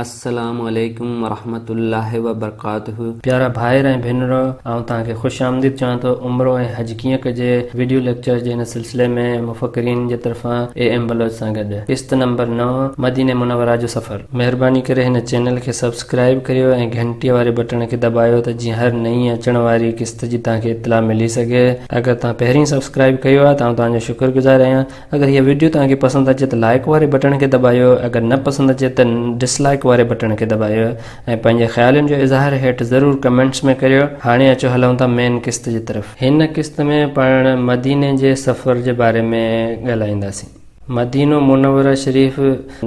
السلام عليڪم ورحمة الله وبرڪاته. پيارا ڀائر ۽ ڀينرو آئون توهان کي خوش آمديد چوان ٿو عمرو ۽ حج ڪيئن ڪجي وڊيو ليڪچر جي هن سلسلي ۾ مفڪرين جي طرفان اي ايم بلوچ سان گڏ قسط نمبر نو مدينه منوره جو سفر. مهرباني ڪري هن چينل کي سبسڪرائيب ڪريو ۽ گهنٽي واري بٽڻ کي دٻايو ته جيئن هر نئين اچڻ واري قسط جي توهان کي اطلاع ملي سگهي اگر توهان پهرين سبسڪرائيب ڪيو آهي ته آئون توهان جو شڪر گذار آهيان اگر هيء وڊيو توهان کي پسند اچي ته لائيڪ واري بٽڻ کي دٻايو اگر نه پسند اچي ته ڊس لائيڪ واري بٽڻ کي دٻايو ۽ پنهنجي خيالن جو اظهار هيٺ ضرور ڪمينٽس ۾ ڪريو هاڻي اچو هلون ٿا مين قسط جي طرف هن قسط ۾ پاڻ مديني جي سفر جي باري ۾ ڳالهائينداسين مدينو منوره شريف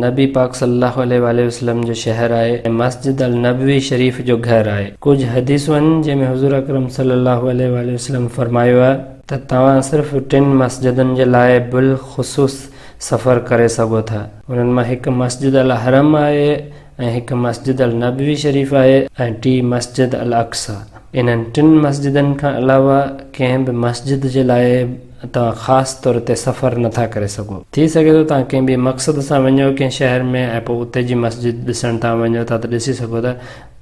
نبي پاڪ صلي الله عليه واٰله وسلم جو شهر آهي ۽ مسجد النبوي شريف جو گهر آهي ڪجهه حديثون آهن جنهن ۾ حضور اڪرم صلي الله عليه واٰله وسلم فرمايو آهي. ته توهان صرف ٽن مسجدن جي لاء بالخصوص سفر ڪري سگهو ٿا. انهن مان هڪ مسجد الحرم آهي ۽ هڪ مسجد النبوي شريف آهي ۽ ٽي مسجد الاقصيٰ. انهن ٽن مسجدن کان علاوه ڪنهن به مسجد جي لاء توهان خاص طور تي سفر نه ٿا ڪري سگهو. ٿي سگهي ٿو توهان ڪنهن ٻئي مقصد سان وڃو ڪنهن شهر ۾ ۽ پوء اتي جي مسجد ڏسڻ توهان وڃو ٿا ته ڏسي سگهو ٿا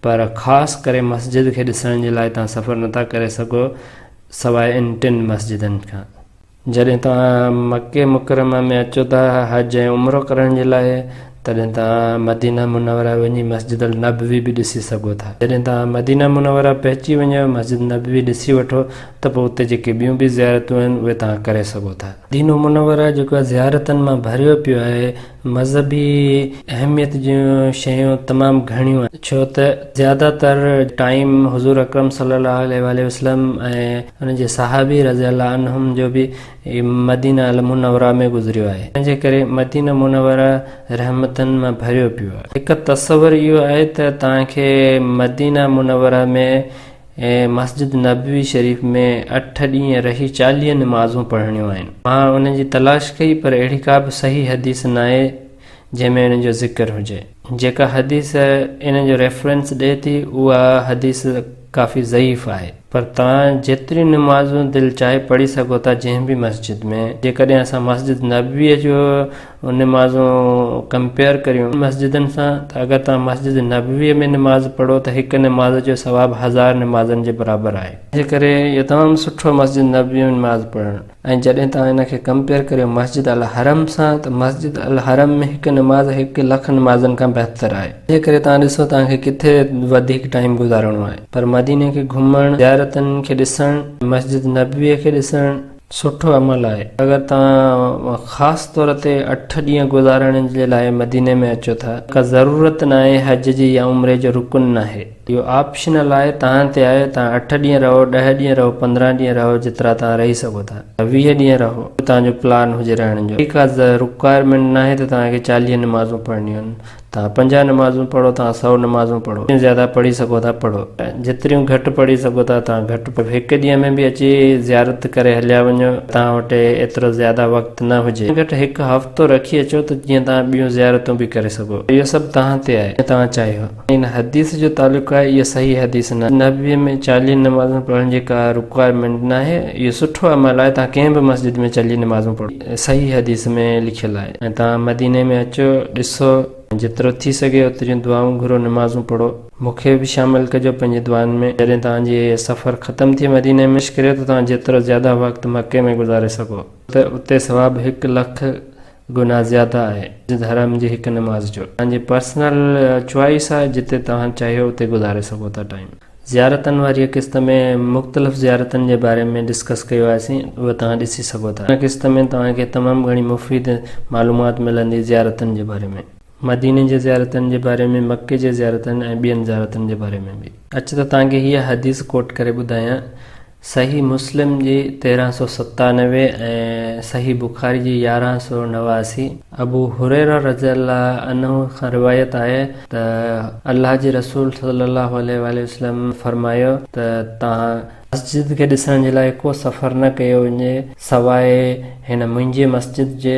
پر خاص ڪري مسجد کي ڏسڻ جي لاء توهان سفر نه ٿا ڪري سگهو سواء ان ٽن مسجدن کان. جڏهن توهان مڪي مڪرمه ۾ اچو ٿا حج ۽ عمرو ڪرڻ جي لاء تڏهن توهان مدينه منوره وڃي مسجد النبوي به ڏسي سگهو ٿا. جڏهن توهان مدينه منوره پهچي وڃو مسجد نبوي ڏسي وٺو ته پوء اتي جيڪي ٻيون به زيارتون آهن اهي توهان ڪري سگهو ٿا. مدينو منوره جيڪو زيارتن مان ڀريو پيو آهي. مذهبي اهميت جون شيون تمام گهڻيون آهن ڇو ته زياده تر ٽائيم حضور اڪرم صلي الله عليه واٰله وسلم ۽ ان جي صحابي رضي الله عنهم جو به مدينه المنوره ۾ گذريو آهي تنهنجي ڪري مدينه منوره رحمتن مان ڀريو پيو آهي هڪ تصور اهو آهي ته توهان کي مدينه منوره ۾ ۽ مسجد نبوي شريف ۾ اٺ ڏينهن رهي چاليهه نمازون پڙهڻيون آهن. مان انهن جي تلاش ڪئي پر اهڙي ڪا به صحيح حديث ناهي جنهن ۾ انهن جو ذڪر هجي. جيڪا حديث انهن جو ريفرنس ڏئي ٿي اها حديث ڪافي ضعيف آهي. پر توهان جيتريون نمازون دل چاهي پڙهي سگهو ٿا جنهن به مسجد ۾. جيڪڏهن اسان مسجد نبوي جو. ان نمازون ڪمپيئر ڪريون مسجدن سان ته اگر توهان مسجد نبويء ۾ نماز پڙهو ته هڪ نماز جو ثواب هزار نمازن جي برابر آهي. تنهن ڪري اهو تمام سٺو مسجد نبويء ۾ نماز پڙهڻ ۽ جڏهن توهان ان کي ڪمپيئر ڪريو مسجد الحرم سان ته مسجد الحرم ۾ هڪ نماز هڪ لک نمازن کان بهتر آهي تنهن ڪري توهان ڏسو توهان کي ڪٿي وڌيڪ ٽائيم گذارڻو آهي پر مديني کي گهمڻ زيارتن کي ڏسڻ مسجد نبويء کي ڏسڻ سٺو عمل آهي. اگر توهان خاص طور تي اٺ ڏينهن گذارڻ جي لاء مديني ۾ اچو ٿا ته ڪا ضرورت ناهي حج جي يا عمري جو رڪن ناهي اهو آپشنل آهي توهان تي آهي توهان اٺ ڏينهن رهو ڏهه ڏينهن رهو پندرهن ڏينهن رهو جيترا توهان رهي سگهو ٿا يا ويهه ڏينهن رهو جو توهان جو پلان هجي رهڻ جو اهڙي ڪا رڪوائرمينٽ ناهي ته توهان کي چاليهه نمازون پڙهڻيون آهن توهان پنجاهه نمازون پڙهو، توهان سؤ نمازون پڙهو، جتريون زياده پڙهي سگهو ٿا پڙهو، ۽ جتريون گهٽ پڙهي سگهو ٿا، توهان گهٽ پڙهو. هڪ ڏينهن ۾ به اچي زيارت ڪري هليا وڃو، توهان وٽ ايترو زياده وقت نه هجي، گهٽ ۾ گهٽ هڪ هفتو رکي اچو ته جيئن توهان ٻيون زيارتون به ڪري سگهو. اهو سڀ توهان تي آهي، جيئن توهان چاهيو. ۽ ان حديث جو تعلق آهي، اها صحيح حديث ناهي. نبوي ۾ چاليهه نمازون پڙهڻ جي ڪا رڪوائرمينٽ ناهي، اهو سٺو عمل آهي، توهان ڪنهن به مسجد ۾ چاليهه نمازون پڙهو. صحيح حديث ۾ لکيل آهي ۽ توهان مديني ۾ اچو ڏسو ۽ جيترو ٿي سگهي اوتريون دعائون گهرو نمازون پڙهو. مون کي به شامل ڪجو پنهنجي دعائن ۾. جڏهن توهان جي سفر ختم ٿئي مديني ۾، ڪوشش ڪريو ته توهان جيترو زياده وقت مڪي ۾ گذاري سگهو. ڇو ته اتي ثواب هڪ لک گنا زياده آهي مسجد حرام جي هڪ نماز جو. توهان جي پرسنل چوائس آهي جتي توهان چاهيو اتي گذاري سگهو ٿا ٽائيم. زيارتن واريء قسط ۾ مختلف زيارتن جي باري ۾ ڊسڪس ڪيو آهيسين اهو توهان ڏسي سگهو ٿا. هن قسط ۾ توهان کي تمام گهڻي مفيد معلومات ملندي زيارتن جي باري ۾. مديني جي زيارتن جي باري ۾، مڪي جي زيارتن ۽ ٻين زيارتن جي باري ۾ به. اچ ته توهان کي هيء حديث ڪوٽ ڪري ٻڌايان. صحيح مسلم جي تيرهن سؤ ستانوي ۽ صحيح بخاري جي يارهن سؤ نواسي ابو هريره رضي الله عنه کان روايت آهي ته الله جي رسول صلي الله عليه واٰله وسلم فرمايو ته توهان مسجد کي ڏسڻ جي لاء ڪو سفر نه ڪيو وڃي سواء هن منهنجي مسجد جي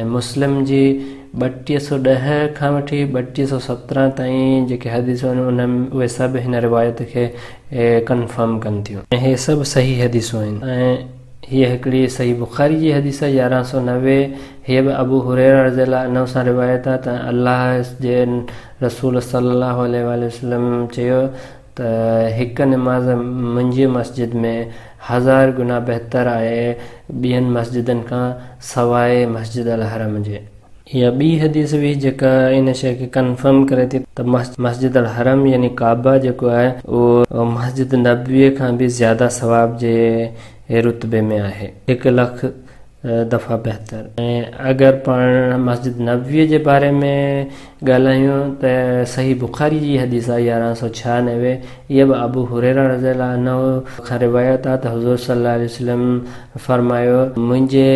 ۽ مسلم جي ٻٽيهه سؤ ڏهه کان وٺي ٻٽيهه سؤ سترهن تائين جيڪي حديثون آهن ان ۾ اهي سڀ هن روايت کي ڪنفرم ڪن ٿيون ۽ هي سڀ صحيح حديثون آهن ۽ هيء هڪڙي صحيح بخاري جي حديث آهي يارهن سؤ نوي هيء به ابو هريره رضي الله عنه سان روايت آهي ته الله جي رسول صلي الله عليه واٰله وسلم چيو ته هڪ نماز منهنجي مسجد ۾ هزار گنا بهتر آهي ٻين مسجدن کان سواء مسجد الحرم جي. اها ٻي حديث هئي جيڪا ان شيء کي ڪنفرم ڪري ٿي ته مسجد الحرم يعني ڪعبه جيڪو آهي اهو مسجد نبويء کان به زياده ثواب جي رتبي ۾ آهي. هڪ لک دفعا بهتر ۽ اگر پاڻ مسجد نبويء جي باري ۾ ڳالهايون ته صحيح بخاري جي حديث آهي يارهن سؤ ڇهانوي اها به ابو هريره رضي الله عنه کان روايت آهي ته حضور صلي الله عليه وسلم فرمايو منهنجي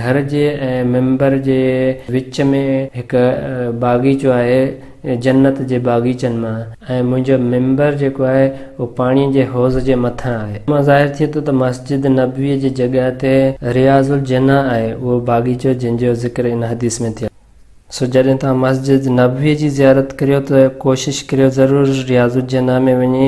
گهر جي ۽ ممبر جي وچ ۾ هڪ باغيچو آهي جنت جي باغيچن مان آهي ۽ منهنجو منبر جيڪو آهي اهو پاڻيء جي حوض جي مٿان آهي. ان مان ظاهر ٿئي ٿو ته مسجد نبويء جي جڳهه تي رياض الجنه آهي، اهو باغيچو جنهن جو ذڪر ان حديث ۾ ٿيل آهي. سو جڏهن توهان مسجد نبويء جي زيارت ڪريو ته ڪوشش ڪريو ضرور رياض الجنه ۾ وڃي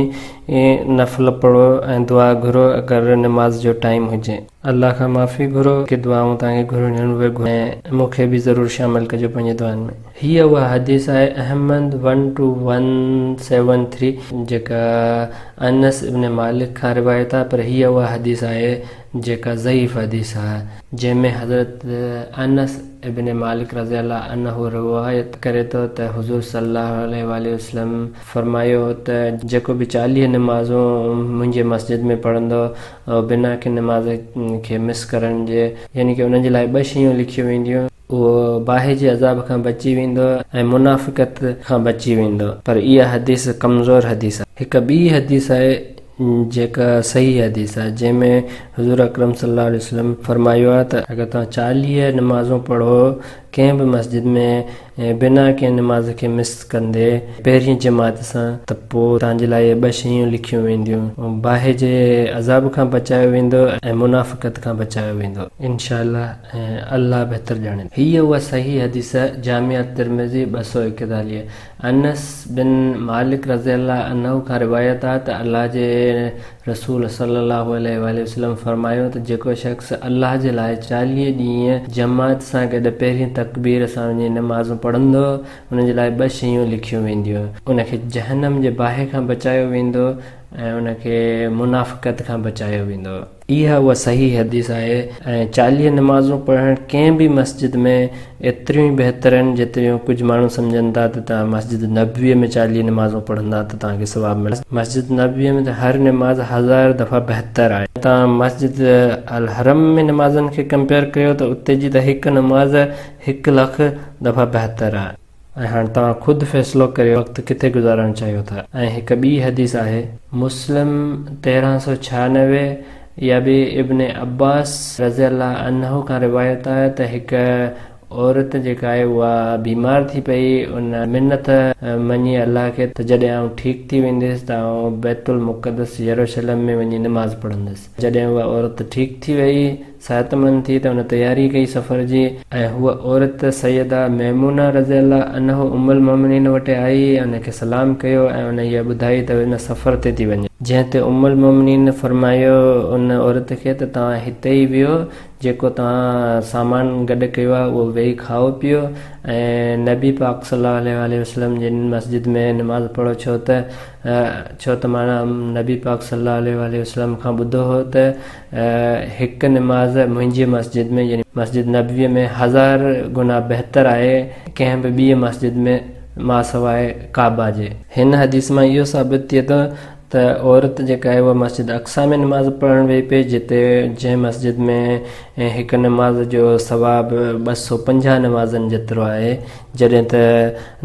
نفل پڙهو ۽ دعا گهرو اگر نماز جو ٽائيم هجي. الله کان معافي گهرو ڪي دعائون توهان کي گهرڻيون اهي گهرو ۽ مون کي به ضرور شامل ڪجو پنهنجي دعائن ۾. هيء اها حديث آهي Ahmad one two one seven three جيڪا انس ابن مالڪ کان روايت آهي پر هيء اها حديث آهي جيڪا ضعيف حديث آهي جنهن ۾ حضرت انس ابن مالڪ رضي الله عنه روايت ڪري ٿو ته حضور صلي الله عليه واٰله وسلم فرمايو هو ته جيڪو به چاليهه نمازون منهنجي مسجد ۾ پڙهندو او بنا ڪنھن نماز کي مس ڪرڻ جي، يعني ڪي انھن جي لاء ٻه شيون لکيون وينديون. اھو باھه جي عذاب کان بچي ويندو ۽ منافقت کان بچي ويندو. پر اھا حديث ڪمزور حديث آھي. ھڪ ٻي حديث آھي جيڪا صحيح حديث آھي جنھن ۾ حضور اڪرم صلي الله عليه وسلم فرمايو آھي ته. اگر توھان چاليھه نمازون پڙھو ڪنهن به مسجد ۾ بنا ڪنهن نماز کي مس ڪندي پهرين جماعت سان ته پوء توهان جي لاء اهي ٻه شيون لکيون وينديون، باهه جي عذاب کان بچايو ويندو ۽ منافقت کان بچايو ويندو انشاء الله ۽ الله بهتر ڄاڻيندو. هيء اها صحيح حديث آهي، جامع الترمذي ٻه سؤ ايڪيتاليهه، انس بن مالڪ رضي الله عنه کان روايت آهي ته الله جي رسول صلّي اللّٰه عليه واٰله وسلّم فرمايو ته جيڪو شخص الله جي لاء چاليهه ڏينهن جماعت سان گڏ پهرين تڪبير سان وڃي نمازون پڙهندو ان جي لاء ٻه شيون لکيون وينديون ان کي جهنم جي باهه کان بچايو ويندو ۽ ان کي منافقت کان بچايو ويندو. اها اها صحيح حديث آهي ۽ چاليهه نمازون پڙهڻ ڪنهن به مسجد ۾ ايتريون ئي بهتر آهن جيتريون ڪجهه ماڻهو سمجهن ٿا ته توهان مسجد نبويء ۾ چاليهه نمازون پڙهندا ته توهان کي ثواب ملندو. مسجد نبويء ۾ ته هر نماز هزار دفعا بهتر آهي. توهان مسجد الحرم ۾ نمازن کي ڪمپيئر ڪريو ته اتي جي ته هڪ نماز هڪ لک دفعا بهتر آهي. ۽ هاڻ توهان خود فيصلو ڪريو وقت ڪٿي گذارڻ چاهيو ٿا. ۽ هڪ ٻي حديث آهي. مسلم تيرهن سؤ ڇهانوي اها به ابن عباس رضي الله عنه کان روايت آهي ته هڪ عورت جيڪا آهي اها بيمار ٿي پئي، ان منت مڃي الله کي ته جڏهن آئون ٺيڪ ٿي وينديس ته آئون بيت المقدس يروشلم ۾ وڃي نماز پڙهنديس. جڏهن اها عورت ٺيڪ ٿي وئي، صحتمند ٿي ته ان تياري ڪئي سفر جي، ۽ هوء عورت سيده ميمونه رضي الله عنه ام المومنين وٽ آئي ۽ ان کي سلام ڪيو ۽ انهيء ٻڌائي ته ان سفر تي ٿي وڃي. جنهن تي ام المومنين فرمايو ان عورت کي ته توهان هتي ئي ويهو، جيڪو توهان سامان گڏ ڪيو آهي اهو ويهي کائو پيئو ۽ نبي پاڪ صلّي الله عليه وسلّم جي مسجد ۾ نماز پڙهو ڇو ته ڇو ته مان نبي پاڪ صلّي الله عليه وسلّم کان ٻڌو هو ته هڪ نماز منهنجي مسجد ۾ يعني مسجد نبويء ۾ هزار گنا بهتر آهي ڪنهن به ٻيء مسجد ۾ ماسواء ڪعبه جي. هن حديث مان اهو ثابت ٿئي ٿو ته عورت جيڪا آهي اها مسجد اقصيٰ ۾ نماز پڙهڻ ويهي پئي جتي جنهن مسجد ۾ هڪ نماز جو ثواب ٻه سؤ پنجاهه نمازن جيترو آهي جڏهن ته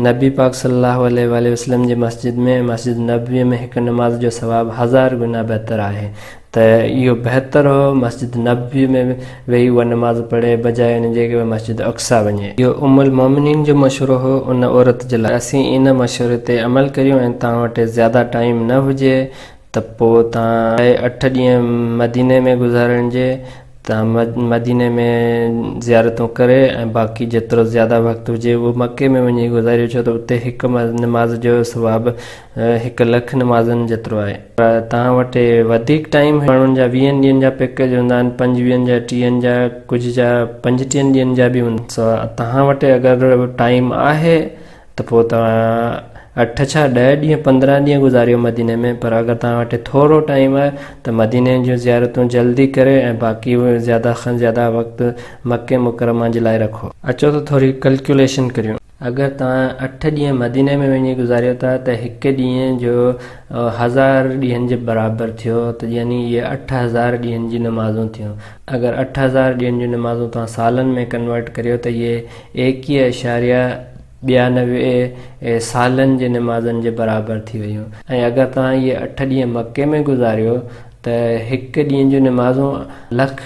نبي پاڪ صلي الله عليه واٰله وسلم جي مسجد ۾ مسجد نبويء ۾ هڪ نماز جو ثواب هزار گنا بهتر آهي ته اهو بهتر هو مسجد نبوي ۾ ويهي اها نماز پڙهي بجاء ان جي ڪي مسجد اقصيٰ وڃي. اهو ام المومنين جو مشورو هو ان عورت جي لاء. اسين ان مشوري تي عمل ڪريون ۽ توهان وٽ زياده ٽائيم نه هجي ته پوء توهان. لاء اٺ ڏينهن مديني ۾ گذارڻ جي توهان مديني ۾ زيارتون ڪري ۽ باقي جيترو زياده وقت هجي اهو مڪي ۾ وڃي گذاريو ڇو ته اتي هڪ نماز جو ثواب هڪ لک نمازن جيترو آهي. توهان وٽ وڌيڪ ٽائيم ماڻهن جا ويهن ڏينهن جا پيڪيج هوندا آهن پنجويهن جا ٽيهن جا ڪجهه جا پنجٽيهن ڏينهن جا به هوندا آهن سو توهان وٽ اگر ٽائيم آهي ته پوء توهان اٺ ڇا ڏهه ڏينهن پندرهن ڏينهن گذاريو مديني ۾ پر اگر توهان وٽ ٿورو ٽائيم آهي ته مديني جون زيارتون جلدي ڪري ۽ باقي زياده کان زياده وقت مڪي مڪرمه جي لاء رکو. اچو ته ٿوري ڪلڪيوليشن ڪريون. اگر توهان اٺ ڏينهن مديني ۾ وڃي گذاريو ٿا ته هڪ ڏينهن جو هزار ڏينهن جي برابر ٿيو ته يعني اهي اٺ هزار ڏينهن جي نمازون ٿيون اگر اٺ هزار ڏينهن جون نمازون توهان سالن ۾ ڪنورٽ ڪريو ته اهي ايڪيهه اعشاريه ٻيانوي سالن جي نمازن جي برابر ٿي ويون ۽ اگر توهان اهي اٺ ڏينهن مڪي ۾ گذاريو ته هڪ ڏينهن جون نمازون لک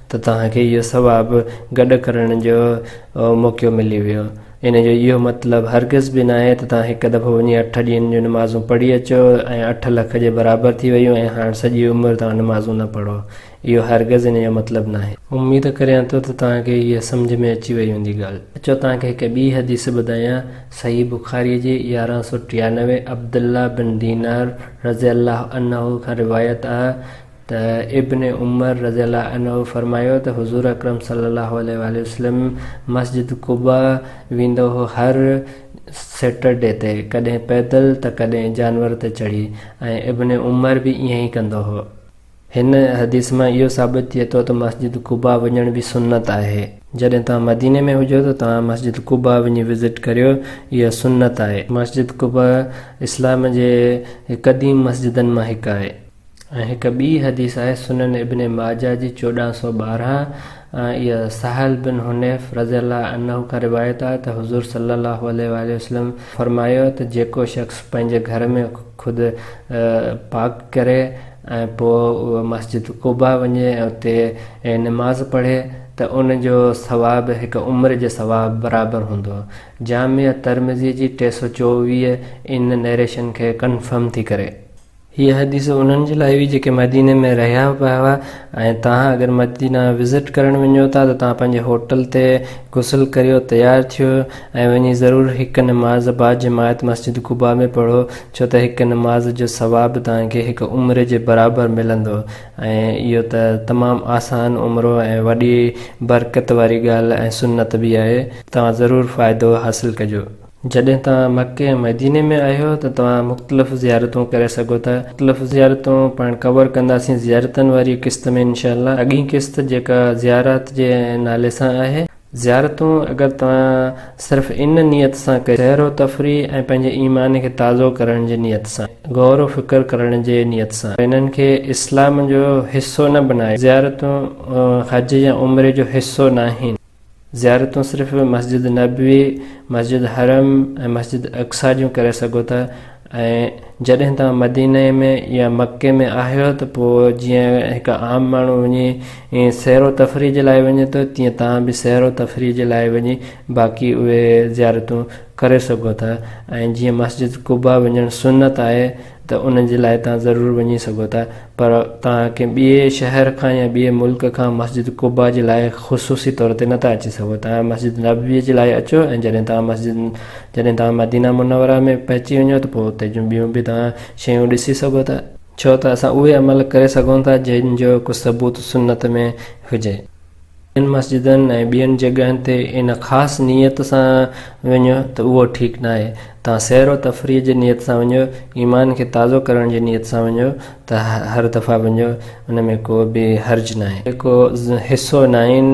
ته توهان کي اهو ثواب گڏ ڪرڻ جو موقعو ملي ويو. ان جو اهو مطلب هرگز به ناهي ته توهان هڪ دفعو وڃي اٺ ڏينهن جون نمازون پڙهي اچو ۽ اٺ لک جي برابر ٿي ويون ۽ هاڻ سڄي عمر توهان نمازون نه پڙهو. اهو هرگز ان جو مطلب ناهي. اميد ڪريان ٿو ته توهان کي اها سمجهه ۾ اچي وئي هوندي ڳالهه. اچو توهان کي هڪ ٻي حديث ٻڌايان، صحيح بخاريء جي يارهن سؤ ٽيانوي، عبدالله بن دينار رضي الله عنه کان روايت آهي ته ابن عمر رضي الله عنه فرمايو ته حضور اڪرم صلي الله عليه واٰله وسلم مسجد قباء ويندو هو هر سيٽرڊي تي ڪڏهن پيدل ته ڪڏهن جانور تي چڙهي ۽ ابن عمر به ائين ئي ڪندو هو. هن حديث مان اهو ثابت ٿئي ٿو ته مسجد قباء وڃڻ به سنت آهي. جڏهن توهان مديني ۾ هجو ته توهان مسجد قباء وڃي وزٽ ڪريو اها سنت آهي. مسجد قباء اسلام جي قديم مسجدن مان هڪ آهي. ۽ هڪ ٻي حديث آهي سنن ابن ماجه جي چوڏهن سؤ ٻارهن ۽ اها سهل بن حنيف رضي الله عنه کان روايت آهي ته حضور صلي الله عليه واٰله وسلم فرمايو ته جيڪو شخص پنهنجي گهر ۾ خود پاڪ ڪري ۽ پوء اهو مسجد قباء وڃي ۽ اتي نماز پڙهي ته ان جو ثواب هڪ عمر جي ثواب برابر هوندو. جامع ترمذي جي ٽي سؤ چوويهه ان نئريشن کي ڪنفرم ٿي ڪري. هيء حديث انهن جي لاء هئي جيڪي مديني ۾ رهيا پيا هئا ۽ توهان اگر مدينه وزٽ ڪرڻ وڃو ٿا ته توهان پنهنجي هوٽل تي غسل ڪريو تيار ٿيو ۽ وڃي ضرور هڪ نماز با جماعت مسجد قباء ۾ پڙهو ڇو ته هڪ نماز جو ثواب توهان کي هڪ عمري جي برابر ملندو ۽ اهو ته تمام آسان عمرو ۽ وڏي برڪت واري ڳالهه ۽ سنت به آهي توهان ضرور فائدو حاصل ڪجو. جڏهن توهان مڪي ۽ مديني ۾ آهيو ته توهان مختلف زيارتون ڪري سگهو ٿا مختلف زيارتون پاڻ ڪور ڪنداسين زيارتن واري قسط ۾ انشاء الله اڳين قسط جيڪا زيارات جي نالي سان آهي زيارتون اگر توهان صرف ان نيت سان ڪري سير و تفريح ۽ پنهنجي ايمان کي تازو ڪرڻ جي نيت سان غور و فڪر ڪرڻ جي نيت سان انهن کي اسلام جو حصو نه بنايو زيارتون حج يا عمري جو حصو ناهن. زيارتون صرف مسجد نبوي، مسجد حرم ۽ مسجد اقصيٰ جون ڪري سگهو ٿا ۽ جڏهن توهان مديني ۾ يا مڪي ۾ آهيو ته پوء جيئن هڪ عام ماڻهو وڃي سير و تفريح جي لاء وڃي ٿو تيئن توهان به سير و تفريح جي لاء وڃي باقي اهي زيارتون ڪري سگهو ٿا ۽ جيئن مسجد قباء وڃڻ سنت آهي ته ان جي لاء توهان ضرور وڃي سگهو ٿا پر توهان ڪنهن ٻئي شهر کان يا ٻئي ملڪ کان مسجد قباء جي لاء خصوصي طور تي نه ٿا اچي سگهو توهان مسجد نبويء جي لاء اچو ۽ جڏهن توهان مسجد جڏهن توهان مدينه منوره ۾ پهچي وڃو ته پوء اتي جون ٻيون به توهان شيون ڏسي سگهو ٿا. ڇو ته اسان اهي عمل ڪري سگهون ٿا جن جو ڪو ثبوت سنت ۾ هجي. ان مسجدن ۽ ٻين جڳهن تي ان خاص نيت سان وڃو ته اهو ٺيڪ ناهي. توهان سير و تفريح جي نيت سان وڃو، ايمان کي تازو ڪرڻ جي نيت سان وڃو ته هر دفعي وڃو، ان ۾ ڪو به حرج ناهي. هي ڪو حصو ناهي ان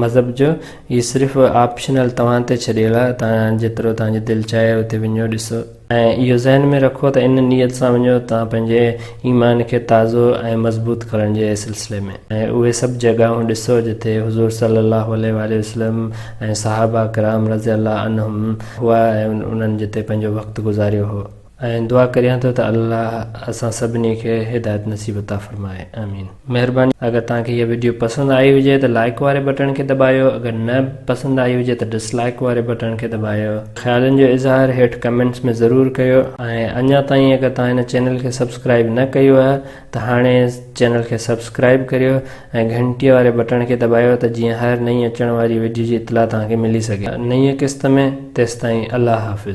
مذهب جو، هي صرف آپشنل توهان تي ڇڏيل آهي، توهان جيترو توهان جي دل چاهي اتي وڃو، ڏسو. ۽ اهو ذهن ۾ رکو ته ان نيت سان وڃو ته توهان پنهنجي ايمان کي تازو ۽ مضبوط ڪرڻ جي سلسلي ۾، ۽ اهي سڀ جڳهون ڏسو جتي حضور صلّي اللّٰه عليه واٰله وسلّم ۽ صحابه ڪرام رضي اللّٰه عنهم هئا ۽ انهن جتي پنهنجو وقت گذاريو هو. ۽ دعا ڪريان ٿو ته الله اسان سڀني کي هدايت نصيب عطا فرمائي. آمين. مهرباني اگر توهان کي هيء وڊيو پسند آئي هجي ته لائيڪ واري بٽڻ کي دٻايو اگر نه پسند آئي هجي ته ڊس لائيڪ واري بٽڻ کي دٻايو خيالن جو اظهار هيٺ ڪمينٽس ۾ ضرور ڪيو ۽ اڃا تائين اگر توهان هن چينل کي سبسڪرائيب نه ڪيو آهي ته هاڻي چينل کي سبسڪرائيب ڪريو ۽ گهنٽيء واري بٽڻ کي دٻايو ته جيئن هر نئين اچڻ واري وڊيو جي اطلاع توهان کي ملي سگهي نئين قسط ۾ تيستائين الله حافظ.